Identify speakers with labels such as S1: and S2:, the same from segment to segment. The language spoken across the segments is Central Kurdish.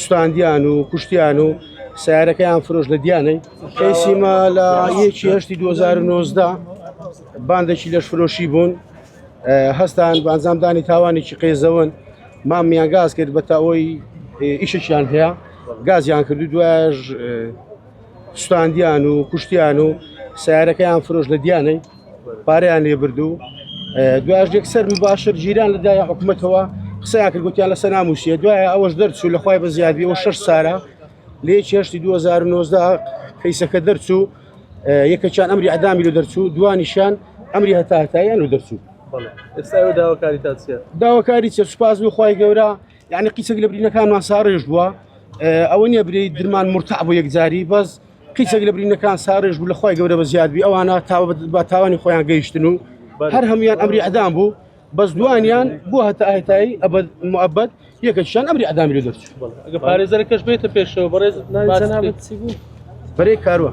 S1: سوتاندیان و کوشتیان و سیارەکەیان فرۆش لە دیانەی کەیسیمە لە یەکی هەشتی 2009دا باندێکی لەش فرۆشی بوون هەستان بانزامدانی تاوانێکی قێزەون مامیان گاز کرد بە تاەوەی ئیشەکیان هەیە گازیان کردو دوایش سوتاندیان و کوشتیان و سیارەکەیان فرۆش لە دیانەی پاریان لێ بردو دواش یەکسەر مباشر جیران لە دای حکوومەتەوە قسەیان کرد گوتیان لەسەر ناموسیە دوای ئەوەش دەرچوو لە خخوای بە زیادبیەوە شش سارە لێ چێشتی 2009 کەیسەکە دەرچوو یەکەچان ئەمری ئەدامی لە دەرچوو دوانیشان ئەمری هەتاتایان و دەرچوو
S2: داواکاری چێ سوپاس
S1: بخوای گەورە یعنی قیچەک لە برینەکانمان ساڕێژ بووە ئەوە نیە برێی درمان مرتع بۆ یەکجاری بەس قیچەک لە برینەکان ساڕێژ بوو لەخوای گەورە بە زیادبی ئەوانە تاوە بە تاوانی خۆیان گەیشتن و هەر هەموان ئەمری ئەدام بوو بەس دوانیان بۆ هەتا هەتایی ئەبد مەبەت یەکەشیان ئەمری ئەدامی لە دەرچوو پارێزەرەکەش
S2: بێتە پێشەوە
S1: بەڕێز بەرەی کاروە.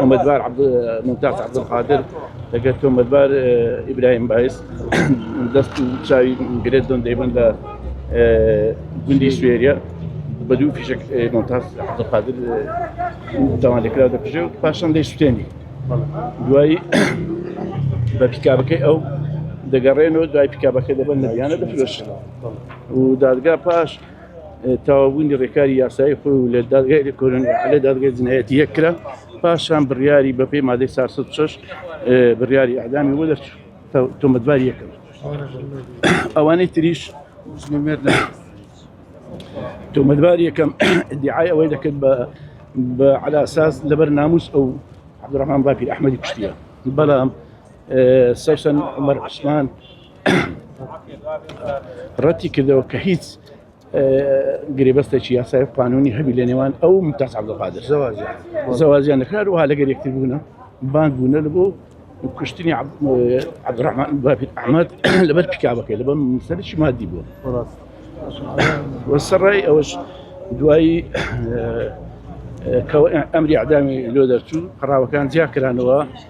S3: تۆمەتبار ممتاز عبدالقادر دەگەر تۆمەتبار ئیبراهیم باعث دەست و چاوی گرێت دۆن دەیبن لە گوندی سوێریە بە دوو فیشک ممتاز عبدالقادر تاوان لێکرا دەکوژێ و پاشان دەی سوتێنی دوایی بە پیکابەکەی ئەو دەگەڕێنەوە دوای پیکابەکە دەبن نەویانە دەفرۆشن و دادگا پاش تەواوبوونی ڕێکاری یاسایی خۆی و لە دادگای لێکۆلن ئیعالەی دادگای جنایەتی یەک کرا پاشان بڕیاری بەپێی مادەی 406 بڕیاری ئەعدامی بۆ دەرچوو تۆمەتبار یەکەم ئەوانەی تریش تۆمەتبار یەکەم دیعای ئەوەی دەکرد بە بە علاساس لەبەر ناموس ئەو عبدڕحمان باپیر ئەحمەدی کوشتە بەڵام سەشن عمر عوسمان ڕەتی کردەوە کە هیچ گرێبەستێکی یاسای قانونی هەبی لە نێوان ئەو متاز عبدالقادر زەوازیان دەکار وها لەگەر یەکتر بوونە بانگ بوونە لە بۆ کوشتنی عبدڕحمان بابیت ئەحمد لەبەر پیکابەکەی لەبەر سەرشی مادی بووە وەسەڕای ئەوەش دوایی ئەمری عدامی لۆ دەرچوو قڕاوەکان جیاکرانەوە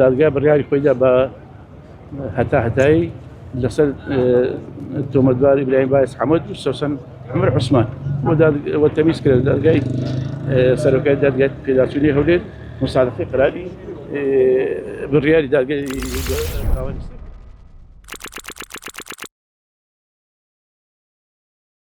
S3: دادگا بڕیاری خۆیدا بە هەتاهەتایی لەسەر تۆمەتبار ئیبراهیم باعث حەمەد و سەوسەن عمر عوسمان و تەمیز کرد دادگای سەرۆکای دادگای پێداچوونی هەولێر مساعدەی قراردی بڕیاری دادگای